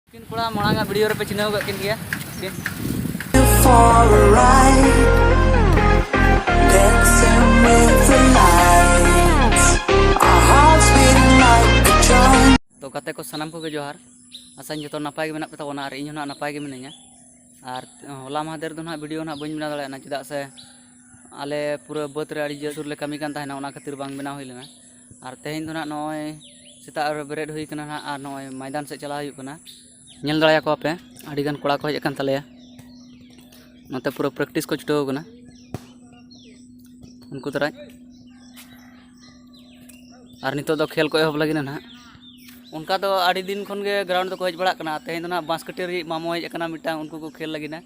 ᱠᱤᱱ ᱠᱚᱲᱟ ᱢᱟᱲᱟᱝ ᱟᱜ ᱵᱷᱤᱰᱤᱭᱳ ᱨᱮᱯᱮ ᱪᱤᱱᱦᱟᱹᱣ ᱠᱟᱜ ᱠᱤᱱ ᱜᱮᱭᱟ ᱛᱚ ᱜᱟᱛᱮ ᱠᱚ ᱥᱟᱱᱟᱢ ᱠᱚᱜᱮ ᱡᱚᱦᱟᱨ ᱟᱥᱟᱧ ᱡᱚᱛᱚ ᱱᱟᱯᱟᱭ ᱜᱮ ᱢᱮᱱᱟᱜ ᱯᱮ ᱛᱟᱵᱚᱱᱟ ᱟᱨ ᱤᱧ ᱦᱚᱸ ᱱᱟᱜ ᱱᱟᱯᱟᱭ ᱜᱮ ᱢᱤᱱᱟᱹᱧᱟ ᱟᱨ ᱦᱚᱞᱟ ᱢᱟᱦᱫᱮᱨ ᱫᱚ ᱱᱟᱜ ᱵᱷᱤᱰᱤᱭᱳ ᱱᱟᱜ ᱵᱟᱹᱧ ᱵᱮᱱᱟᱣ ᱫᱟᱲᱮᱭᱟᱜᱼᱟ ᱪᱮᱫᱟᱜ ᱥᱮ ᱟᱞᱮ ᱯᱩᱨᱟᱹ ᱵᱟᱹᱫᱽ ᱨᱮ ᱟᱹᱰᱤ ᱡᱳᱨ ᱞᱮ ᱠᱟᱹᱢᱤ ᱠᱟᱱ ᱛᱟᱦᱮᱱᱟ ᱚᱱᱟ ᱠᱷᱟᱹᱛᱤᱨ ᱵᱟᱝ ᱵᱮᱱᱟᱣ ᱦᱩᱭ ᱞᱮᱱᱟ ᱟᱨ ᱛᱮᱦᱮᱧ ᱫᱚ ᱱᱟᱦᱟᱜ ᱱᱚᱜᱼᱚᱭ ᱥᱮᱛᱟᱜ ᱨᱮ ᱵᱮᱨᱮᱫ ᱦᱩᱭ ᱠᱟᱱᱟ ᱱᱟᱦᱟᱜ ᱟᱨ ᱱᱚᱜᱼᱚᱭ ᱢᱚᱭᱫᱟᱱ ᱥᱮᱫ ᱪᱟᱞᱟᱣ ᱦᱩᱭᱩᱜ ᱠᱟᱱᱟ ᱧᱮᱞ ᱫᱟᱲᱮᱭᱟ ᱠᱚᱣᱟ ᱯᱮ ᱟᱹᱰᱤ ᱜᱟᱱ ᱠᱚᱲᱟ ᱠᱚ ᱦᱮᱡ ᱟᱠᱟᱱ ᱛᱟᱞᱮᱭᱟ ᱱᱚᱛᱮ ᱯᱩᱨᱟᱹ ᱯᱨᱮᱠᱴᱤᱥ ᱠᱚ ᱪᱷᱩᱴᱟᱹᱣ ᱠᱟᱱᱟ ᱩᱱᱠᱩ ᱫᱟᱨᱟᱭ ᱟᱨ ᱱᱤᱛᱚᱜ ᱫᱚ ᱠᱷᱮᱞ ᱠᱚ ᱮᱦᱚᱵ ᱞᱟᱹᱜᱤᱫ ᱱᱟᱦᱟᱜ ᱚᱱᱠᱟ ᱫᱚ ᱟᱹᱰᱤ ᱫᱤᱱ ᱠᱷᱚᱱ ᱜᱮ ᱜᱨᱟᱣᱩᱱᱰ ᱫᱚᱠᱚ ᱦᱮᱡ ᱵᱟᱲᱟᱜ ᱠᱟᱱᱟ ᱛᱮᱦᱮᱧ ᱫᱚ ᱱᱟᱦᱟᱜ ᱵᱟᱸᱥᱠᱟᱹᱴᱟᱹᱨᱤ ᱢᱟᱢᱚ ᱦᱮᱡ ᱟᱠᱟᱱᱟ ᱢᱤᱫᱴᱟᱝ ᱩᱱᱠᱩ ᱠᱚ ᱠᱷᱮᱞ ᱞᱟᱹᱜᱤᱫ ᱱᱟᱦᱟᱜ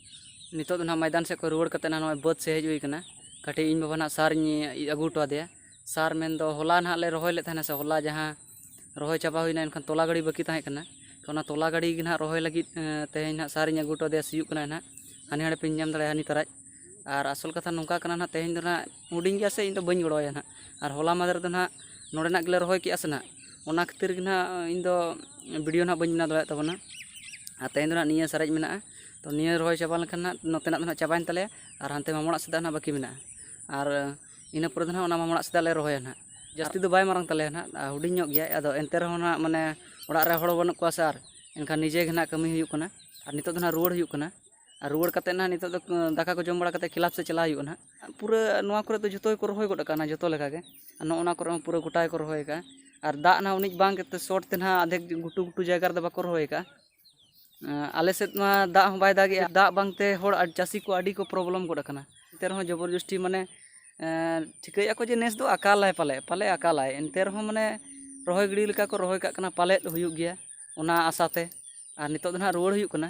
ᱱᱤᱛᱚᱜ ᱫᱚ ᱱᱟᱦᱟᱜ ᱢᱚᱭᱫᱟᱱ ᱥᱮᱫ ᱠᱷᱚᱱ ᱨᱩᱣᱟᱹᱲ ᱠᱟᱛᱮ ᱱᱟᱦᱟᱜ ᱱᱚᱜᱼᱚᱭ ᱵᱟᱹᱫᱽ ᱥᱮᱫ ᱦᱮᱡ ᱦᱩᱭ ᱟᱠᱟᱱᱟ ᱠᱟᱹᱴᱤᱡ ᱤᱧ ᱵᱟᱵᱟ ᱱᱟᱦᱟᱜ ᱥᱟᱨ ᱤᱧ ᱟᱹᱜᱩ ᱦᱚᱴᱚ ᱟᱫᱮᱭᱟ ᱥᱟᱨ ᱢᱮᱱᱫᱚ ᱦᱚᱞᱟ ᱱᱟᱦᱟᱜ ᱞᱮ ᱨᱚᱦᱚᱭ ᱞᱮᱫ ᱛᱟᱦᱮᱱᱟ ᱥᱮ ᱦᱚᱞᱟ ᱡᱟᱦᱟᱸ ᱨᱚᱦᱚᱭ ᱪᱟᱵᱟ ᱦᱩᱭᱱᱟ ᱮᱱᱠᱷᱟᱱ ᱛᱚᱞᱟ ᱜᱟᱹᱰᱤ ᱵᱟᱹᱠᱤ ᱛᱟᱦᱮᱸ ᱠᱟᱱᱟ ᱚᱱᱟ ᱛᱚᱞᱟ ᱜᱟᱹᱰᱤ ᱜᱮ ᱱᱟᱦᱟᱜ ᱨᱚᱦᱚᱭ ᱞᱟᱹᱜᱤᱫ ᱛᱮᱦᱮᱧ ᱱᱟᱦᱟᱜ ᱥᱟᱨ ᱤᱧ ᱟᱹᱜᱩ ᱦᱚᱴᱚ ᱟᱫᱮᱭᱟ ᱥᱤᱭᱳᱜ ᱠᱟᱱᱟᱭ ᱱᱟᱦᱟᱜ ᱦᱟᱱᱮ ᱦᱟᱸᱰᱮ ᱯᱮ ᱧᱮᱞ ᱧᱟᱢ ᱫᱟᱲᱮᱭᱟᱭᱟ ᱦᱟᱹᱱᱤ ᱛᱟᱨᱟᱡ ᱟᱨ ᱟᱥᱚᱞ ᱠᱟᱛᱷᱟ ᱱᱚᱝᱠᱟ ᱠᱟᱱᱟ ᱱᱟᱦᱟᱜ ᱛᱮᱦᱮᱧ ᱫᱚ ᱱᱟᱦᱟᱜ ᱦᱩᱰᱤᱧ ᱜᱮᱭᱟ ᱥᱮ ᱤᱧ ᱫᱚ ᱵᱟᱹᱧ ᱜᱚᱲᱚ ᱟᱭᱟ ᱱᱟᱦᱟᱜ ᱟᱨ ᱦᱚᱞᱟ ᱢᱟᱦᱫᱮᱨ ᱫᱚ ᱱᱟᱦᱟᱜ ᱱᱚᱰᱮᱱᱟᱜ ᱜᱮᱞᱮ ᱨᱚᱦᱚᱭ ᱠᱮᱜᱼᱟ ᱥᱮ ᱱᱟᱦᱟᱜ ᱚᱱᱟ ᱠᱷᱟᱹᱛᱤᱨ ᱜᱮ ᱱᱟᱦᱟᱜ ᱤᱧ ᱫᱚ ᱵᱷᱤᱰᱤᱭᱳ ᱱᱟᱦᱟᱜ ᱵᱟᱹᱧ ᱵᱮᱱᱟᱣ ᱫᱟᱲᱮᱭᱟᱜ ᱛᱟᱵᱚᱱᱟ ᱟᱨ ᱛᱮᱦᱮᱧ ᱫᱚ ᱱᱟᱦᱟᱜ ᱱᱤᱭᱟᱹ ᱥᱟᱨᱮᱡ ᱢᱮᱱᱟᱜᱼᱟ ᱛᱚ ᱱᱤᱭᱟᱹ ᱨᱚᱦᱚᱭ ᱪᱟᱵᱟ ᱞᱮᱱᱠᱷᱟᱱ ᱦᱟᱸᱜ ᱱᱚᱛᱮᱱᱟᱜ ᱫᱚ ᱦᱟᱸᱜ ᱪᱟᱵᱟᱭᱮᱱ ᱛᱟᱞᱮᱭᱟ ᱟᱨ ᱦᱟᱱᱛᱮ ᱢᱟᱢᱚ ᱚᱲᱟᱜ ᱥᱮᱫᱟᱜ ᱦᱟᱸᱜ ᱵᱟᱹᱠᱤ ᱢᱮᱱᱟᱜᱼᱟ ᱟᱨ ᱤᱱᱟᱹ ᱯᱚᱨᱮ ᱫᱚ ᱦᱟᱸᱜ ᱚᱱᱟ ᱢᱟᱢᱚ ᱚᱲᱟᱜ ᱥᱮᱫᱟᱜ ᱞᱮ ᱨᱚᱦᱚᱭᱟ ᱦᱟᱸᱜ ᱡᱟᱹᱥᱛᱤ ᱫᱚ ᱵᱟᱭ ᱢᱟᱨᱟᱝ ᱛᱟᱞᱮᱭᱟ ᱦᱟᱸᱜ ᱦᱩᱰᱤᱧ ᱧᱚᱜ ᱜᱮᱭᱟᱭ ᱟᱫᱚ ᱮᱱᱛᱮ ᱨᱮᱦᱚᱸ ᱦᱟᱸᱜ ᱢᱟᱱᱮ ᱚᱲᱟᱜ ᱨᱮ ᱦᱚᱲ ᱵᱟᱹᱱᱩᱜ ᱠᱚᱣᱟ ᱥᱮ ᱟᱨ ᱮᱱᱠᱷᱟᱱ ᱱᱤᱡᱮ ᱜᱮ ᱦᱟᱸᱜ ᱠᱟᱹᱢᱤ ᱦᱩᱭᱩᱜ ᱠᱟᱱᱟ ᱟᱨ ᱱᱤᱛᱚᱜ ᱫᱚ ᱦᱟᱸᱜ ᱨᱩᱣᱟᱹᱲ ᱦᱩᱭᱩᱜ ᱠᱟᱱᱟ ᱟᱨ ᱨᱩᱣᱟᱹᱲ ᱠᱟᱛᱮᱫ ᱦᱟᱸᱜ ᱱᱤᱛᱚᱜ ᱫᱚ ᱫᱟᱠᱟ ᱠᱚ ᱡᱚᱢ ᱵᱟᱲᱟ ᱠᱟᱛᱮᱫ ᱠᱞᱟᱵᱽ ᱥᱮᱫ ᱪᱟᱞᱟᱜ ᱦᱩᱭᱩᱜᱼᱟ ᱦᱟᱸᱜ ᱯᱩᱨᱟᱹ ᱱᱚᱣᱟ ᱠᱚᱨᱮ ᱫᱚ ᱡᱚᱛᱚ ᱜᱮᱠᱚ ᱨᱚᱦᱚᱭ ᱜᱚᱫ ᱟᱠᱟᱱᱟ ᱡᱚᱛᱚ ᱞᱮᱠᱟ ᱜᱮ ᱟᱨ ᱱᱚᱜᱼᱚ ᱱᱚᱣᱟ ᱠᱚᱨᱮ ᱦᱚᱸ ᱯᱩᱨᱟᱹ ᱜᱚᱴᱟ ᱜᱮᱠᱚ ᱨᱚᱦᱚᱭ ᱟᱠᱟᱫᱼᱟ ᱟᱨ ᱫᱟᱜ ᱦᱟᱸᱜ ᱩᱱᱟᱹᱜ ᱵᱟᱝ ᱜᱮᱛᱮ ᱥᱚᱴ ᱛᱮ ᱦᱟᱸᱜ ᱟᱫᱷᱮᱠ ᱜᱷᱩᱴᱩ ᱜᱷᱩᱴᱩ ᱡᱟᱭᱜᱟ ᱨᱮᱫᱚ ᱵᱟᱠᱚ ᱨᱚᱦᱚᱭ ᱟᱠᱟᱫᱼᱟ ᱟᱞᱮ ᱥᱮᱫ ᱢᱟ ᱫᱟᱜ ᱦᱚᱸ ᱵᱟᱭ ᱫᱟᱜᱮᱜᱼᱟ ᱫᱟᱜ ᱵᱟᱝᱛᱮ ᱦᱚᱲ ᱪᱟᱹᱥᱤ ᱠᱚ ᱟᱹᱰᱤ ᱠᱚ ᱯᱨᱚᱵᱞᱮᱢ ᱜᱚᱫ ᱟᱠᱟᱱᱟ ᱮᱱᱛᱮ ᱨᱮᱦᱚᱸ ᱡᱚᱵᱚᱨ ᱡᱚᱥᱴᱤ ᱢᱟᱱᱮ ᱴᱷᱤᱠᱟᱹᱭᱮᱜᱼᱟ ᱠᱚ ᱡᱮ ᱱᱮᱥ ᱫᱚ ᱟᱠᱟᱞᱟᱭ ᱯᱟᱞᱮ ᱯᱟᱞᱮ ᱟᱠᱟᱞᱟᱭ ᱮᱱᱛᱮ ᱨᱮᱦᱚᱸ ᱢᱟᱱᱮ ᱨᱚᱦᱚᱭ ᱜᱤᱰᱤ ᱞᱮᱠᱟ ᱠᱚ ᱨᱚᱦᱚᱭ ᱠᱟᱜ ᱠᱟᱱᱟ ᱯᱟᱞᱮᱫ ᱦᱩᱭᱩᱜ ᱜᱮᱭᱟ ᱚᱱᱟ ᱟᱥᱟ ᱛᱮ ᱟᱨ ᱱᱤᱛᱚᱜ ᱫᱚ ᱦᱟᱸᱜ ᱨᱩᱣᱟᱹᱲ ᱦᱩᱭᱩᱜ ᱠᱟᱱᱟ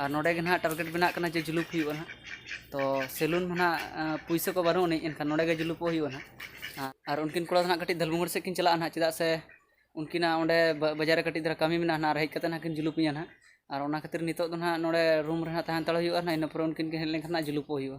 ᱟᱨ ᱱᱚᱰᱮ ᱜᱮ ᱱᱟᱦᱟᱜ ᱴᱟᱨᱜᱮᱴ ᱵᱮᱱᱟᱜ ᱠᱟᱱᱟ ᱡᱮ ᱡᱩᱞᱩᱯ ᱦᱩᱭᱩᱜᱼᱟ ᱱᱟᱦᱟᱜ ᱛᱚ ᱥᱮᱞᱩᱱ ᱢᱟ ᱱᱟᱦᱟᱜ ᱯᱩᱭᱥᱟᱹ ᱠᱚ ᱵᱟᱹᱱᱩᱜ ᱟᱹᱱᱤᱡ ᱮᱱᱠᱷᱟᱱ ᱱᱚᱰᱮ ᱜᱮ ᱡᱩᱞᱩᱯᱚᱜ ᱦᱩᱭᱩᱜᱼᱟ ᱱᱟᱦᱟᱜ ᱟᱨ ᱩᱱᱠᱤᱱ ᱠᱚᱲᱟ ᱫᱚ ᱱᱟᱦᱟᱜ ᱠᱟᱹᱴᱤᱡ ᱫᱷᱟᱹᱞᱵᱷᱩᱝᱜᱩᱲ ᱥᱮᱫ ᱠᱤᱱ ᱪᱟᱞᱟᱜᱼᱟ ᱱᱟᱦᱟᱜ ᱪᱮᱫᱟᱜ ᱥᱮ ᱩᱱᱠᱤᱱᱟᱜ ᱚᱸᱰᱮ ᱵᱟᱡᱟᱨ ᱨᱮ ᱠᱟᱹᱴᱤᱡ ᱫᱷᱟᱨᱟ ᱠᱟᱹᱢᱤ ᱢᱮᱱᱟᱜᱼᱟ ᱱᱟᱦᱟᱜ ᱟᱨ ᱦᱮᱡ ᱠᱟᱛᱮᱫ ᱱᱟᱦᱟᱜ ᱠᱤᱱ ᱡᱩᱞᱩᱯᱤᱧᱟ ᱱᱟᱦᱟᱜ ᱟᱨ ᱚᱱᱟ ᱠᱷᱟᱹᱛᱤᱨ ᱱᱤᱛᱚᱜ ᱫᱚ ᱱᱟᱦᱟᱜ ᱱᱚᱰᱮ ᱨᱩᱢ ᱨᱮ ᱱᱟᱦᱟᱜ ᱛᱟᱦᱮᱸ ᱦᱟᱛᱟᱲ ᱦᱩᱭᱩᱜᱼᱟ ᱱᱟᱦᱟᱜ ᱤᱱᱟᱹ ᱯᱚᱨᱮ ᱩᱱᱠᱤᱱ ᱠᱤᱱ ᱦᱮᱡ ᱞᱮᱱᱠᱷᱟᱱ ᱱᱟᱦᱟᱜ ᱡᱩᱞᱩᱯᱚᱜ ᱦᱩᱭᱩᱜᱼᱟ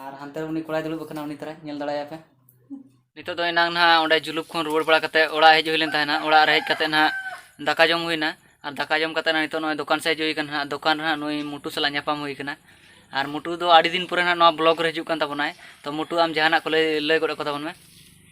ᱟᱨ ᱦᱟᱱᱛᱮ ᱩᱱᱤ ᱠᱚᱲᱟᱭ ᱫᱩᱲᱩᱵ ᱟᱠᱟᱱᱟ ᱩᱱᱤ ᱛᱟᱨᱟᱭ ᱧᱮᱞ ᱫᱟᱲᱮᱭᱟᱭ ᱯᱮ ᱱᱤᱛᱚᱜ ᱫᱚ ᱮᱱᱟᱝ ᱱᱟᱦᱟᱜ ᱚᱸᱰᱮ ᱡᱩᱞᱩᱯ ᱠᱷᱚᱱ ᱨᱩᱣᱟᱹᱲ ᱵᱟᱲᱟ ᱠᱟᱛᱮ ᱚᱲᱟᱜ ᱦᱮᱡ ᱦᱩᱭ ᱞᱮᱱ ᱛᱟᱦᱮᱱᱟ ᱚᱲᱟᱜ ᱨᱮ ᱦᱮᱡ ᱠᱟᱛᱮ ᱱᱟᱦᱟᱜ ᱫᱟᱠᱟ ᱡᱚᱢ ᱦᱩᱭᱱᱟ ᱟᱨ ᱫᱟᱠᱟ ᱡᱚᱢ ᱠᱟᱛᱮ ᱱᱤᱛᱚᱜ ᱱᱚᱜᱼᱚᱭ ᱫᱚᱠᱟᱱ ᱥᱮᱫ ᱦᱮᱡ ᱦᱩᱭ ᱠᱟᱱᱟ ᱱᱟᱦᱟᱜ ᱫᱚᱠᱟᱱ ᱨᱮ ᱱᱩᱭ ᱢᱩᱴᱩ ᱥᱟᱞᱟᱜ ᱧᱟᱯᱟᱢ ᱦᱩᱭ ᱠᱟᱱᱟ ᱟᱨ ᱢᱩᱴᱩ ᱫᱚ ᱟᱹᱰᱤ ᱫᱤᱱ ᱯᱚᱨᱮ ᱱᱟᱦᱟᱜ ᱱᱚᱣᱟ ᱵᱞᱚᱜᱽ ᱨᱮ ᱦᱤᱡᱩᱜ ᱠᱟᱱ ᱛᱟᱵᱚᱱᱟᱭ ᱛᱚ ᱢᱩᱴᱩ ᱟᱢ ᱡᱟᱦᱟᱱᱟᱜ ᱠᱚ ᱞᱟᱹᱭ ᱞᱟᱹᱭ ᱜᱚᱫ ᱟᱠᱚ ᱛᱟᱵᱚᱱ ᱢᱮ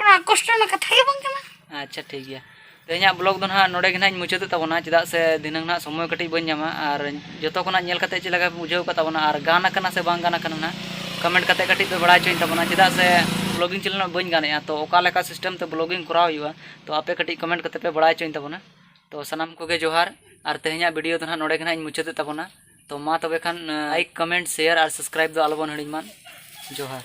ᱚᱱᱟ ᱠᱚᱥᱴᱚ ᱨᱮᱱᱟᱜ ᱠᱟᱛᱷᱟ ᱜᱮ ᱵᱟᱝ ᱠᱟᱱᱟ ᱟᱪᱪᱷᱟ ᱴᱷᱤᱠ ᱜᱮᱭᱟ ᱛᱮᱦᱮᱧᱟᱜ ᱵᱞᱚᱜ ᱫᱚ ᱱᱟᱦᱟᱜ ᱱᱚᱰᱮ ᱜᱮ ᱱᱟᱦᱟᱜ ᱤᱧ ᱢᱩᱪᱟᱹᱫᱮᱫ ᱛᱟᱵᱚᱱᱟ ᱪᱮᱫᱟᱜ ᱥᱮ ᱫᱷᱤᱱᱟᱹᱝ ᱱᱟᱦᱟᱜ ᱥᱚᱢᱚᱭ ᱠᱟᱹᱴᱤᱡ ᱵᱟᱹᱧ ᱧᱟᱢᱟ ᱟᱨ ᱡᱚᱛᱚ ᱠᱷᱚᱱᱟᱜ ᱧᱮᱞ ᱠᱟᱛᱮ ᱪᱮᱫ ᱞᱮᱠᱟ ᱯᱮ ᱵᱩᱡᱷᱟᱹᱣ ᱠᱟᱫ ᱛᱟᱵᱚᱱᱟ ᱟᱨ ᱜᱟᱱ ᱟᱠᱟᱱᱟ ᱥᱮ ᱵᱟᱝ ᱜᱟᱱ ᱟᱠᱟᱱᱟ ᱱᱟᱦᱟᱜ ᱠᱚᱢᱮᱱᱴ ᱠᱟᱛᱮ ᱠᱟᱹᱴᱤᱡ ᱯᱮ ᱵᱟᱲᱟᱭ ᱦᱚᱪᱚᱧ ᱛᱟᱵᱚᱱᱟ ᱪᱮᱫᱟᱜ ᱥᱮ ᱵᱞᱚᱜᱤᱝ ᱪᱮᱱᱮᱞ ᱵᱟᱹᱧ ᱜᱟᱱᱮᱜᱼᱟ ᱛᱚ ᱚᱠᱟ ᱞᱮᱠᱟ ᱥᱤᱥᱴᱮᱢ ᱛᱮ ᱵᱞᱚᱜᱤᱝ ᱠᱚᱨᱟᱣ ᱦᱩᱭᱩᱜᱼᱟ ᱛᱚ ᱟᱯᱮ ᱠᱟᱹᱴᱤᱡ ᱠᱚᱢᱮᱱᱴ ᱠᱟᱛᱮ ᱯᱮ ᱵᱟᱲᱟᱭ ᱦᱚᱪᱚᱧ ᱛᱟᱵᱚᱱᱟ ᱛᱚ ᱥᱟᱱᱟᱢ ᱠᱚᱜᱮ ᱡᱚᱦᱟᱨ ᱟᱨ ᱛᱮᱦᱮᱧᱟᱜ ᱵᱷᱤᱰᱤᱭᱳ ᱫᱚ ᱱᱟᱦᱟᱜ ᱱᱚᱰᱮ ᱜᱮ ᱱᱟᱦᱟᱜ ᱤᱧ ᱢᱩᱪᱟᱹᱫᱮᱫ ᱛᱟᱵᱚᱱᱟ ᱛᱚ ᱢᱟ ᱛᱚᱵᱮ ᱠᱷᱟᱱ ᱞᱟᱭᱤᱠ ᱠᱚᱢᱮᱱᱴ ᱥᱮᱭᱟᱨ ᱟᱨ ᱥᱟᱵᱥᱠᱨᱟᱭᱤᱵ ᱫᱚ ᱟᱞᱚᱵᱚᱱ ᱦᱤᱲᱤᱧ ᱢᱟ ᱡᱚᱦᱟᱨ